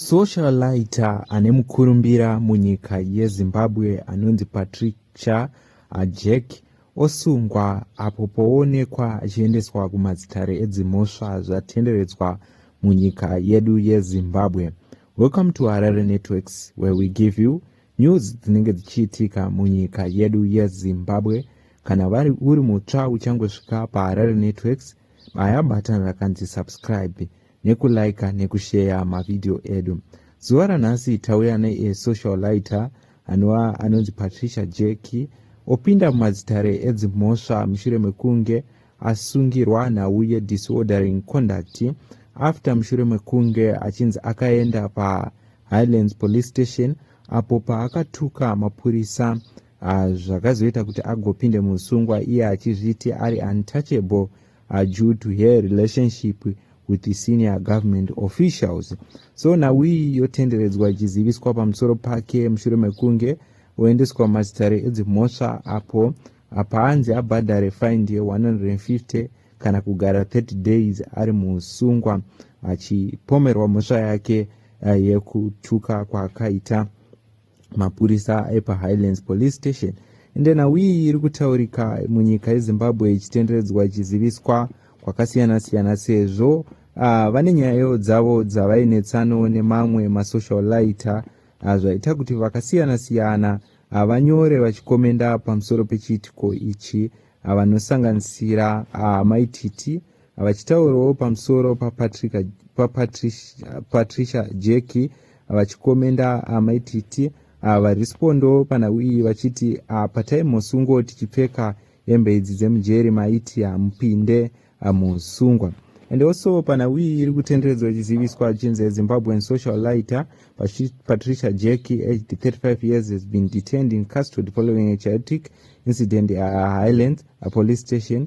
Socialite ane mukurumbira munyika yeZimbabwe anonzi Patricia Ajek osungwa apo poonekwa achiendeswa kumadzitare edzimhosva zvatenderedzwa munyika yedu yeZimbabwe. Welcome to Harare Networks where we give you news dzinenge dzichiitika munyika yedu yeZimbabwe. Kana vari uri mutsva uchangosvika paHarare Networks baya button rakanzi subscribe nekulaika nekusheya mavhidhiyo edu zuva ranhasi tauya neesocial lighter anova anonzi patricia jeki opinda mumadzitare edzimhosva mushure mekunge asungirwa nhau yedisordering conduct after mushure mekunge achinzi akaenda pahighlands police station apo paakatuka mapurisa ah, zvakazoita kuti agopinde muusungwa iye achizviti ari untouchable are due to her relationship with the senior government officials so nawiyi yotenderedzwa ichiziviswa pamusoro pake mushure mekunge oendeswa mazitare edzimhosva apo apaanzi abhadhare find ye 150 kana kugara 30 days ari muusungwa achipomerwa mhosva yake eh, yekutuka kwaakaita mapurisa epahighlands police station ende nhau iyi iri kutaurika munyika yezimbabwe ichitenderedzwa ichiziviswa kwakasiyana-siyana sezvo uh, vane nyayo dzavo dzavainetsano nemamwe masocial lighter uh, zvaita kuti vakasiyana-siyana uh, vanyore vachikomenda pamusoro pechiitiko ichi uh, vanosanganisira uh, maititi Vachitaurawo pamusoro paPatricia pa Patricia Jeki vachikomenda Amai Titi ah, varispondo panhau iyi vachiti ah, patai musungwo tichipfeka hembe idzi dzemujeri maiti hamupinde ah, musungwa and also panhau iyi iri kutenderedzwa ichiziviswa chinzi zimbabwean social lighter patricia jack aged 35 years has been detained in custody following a chaotic incident at highlands a police station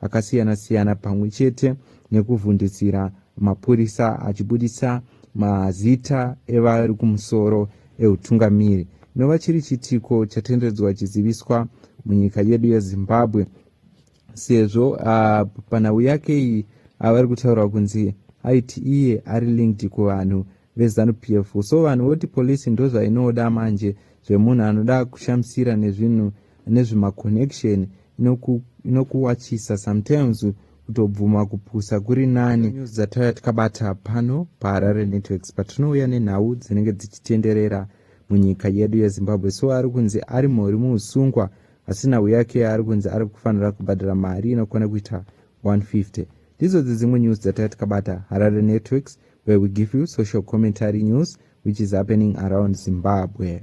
akasiyana-siyana pamwe chete nekuvhundutsira mapurisa achibuditsa mazita evari kumusoro eutungamiri nova chiri chitiko chatenderedzwa chiziviswa munyika yedu yezimbabwe sezvo uh, panhau yake iyi avari kutaura kunzi aiti iye ari linked kuvanhu vezanu p f so vanhu voti polisi ndozvainoda manje zvemunhu anoda kushamisira nezvinhu nezvema connection inoku, inokuwachisa sometimes kutobvuma kupusa kuri nani dzatauya tikabata pano paharare networks patinouya nenhau dzinenge dzichitenderera munyika yedu yezimbabwe so ari kunzi ari mhori muusungwa asi nhau yake ari kunzi ari kufanira kubhadhara mari inokwana kuita 150 ndidzodzi dzimwe news dzatauya tikabata harare networks where we give you social commentary news which is happening around zimbabwe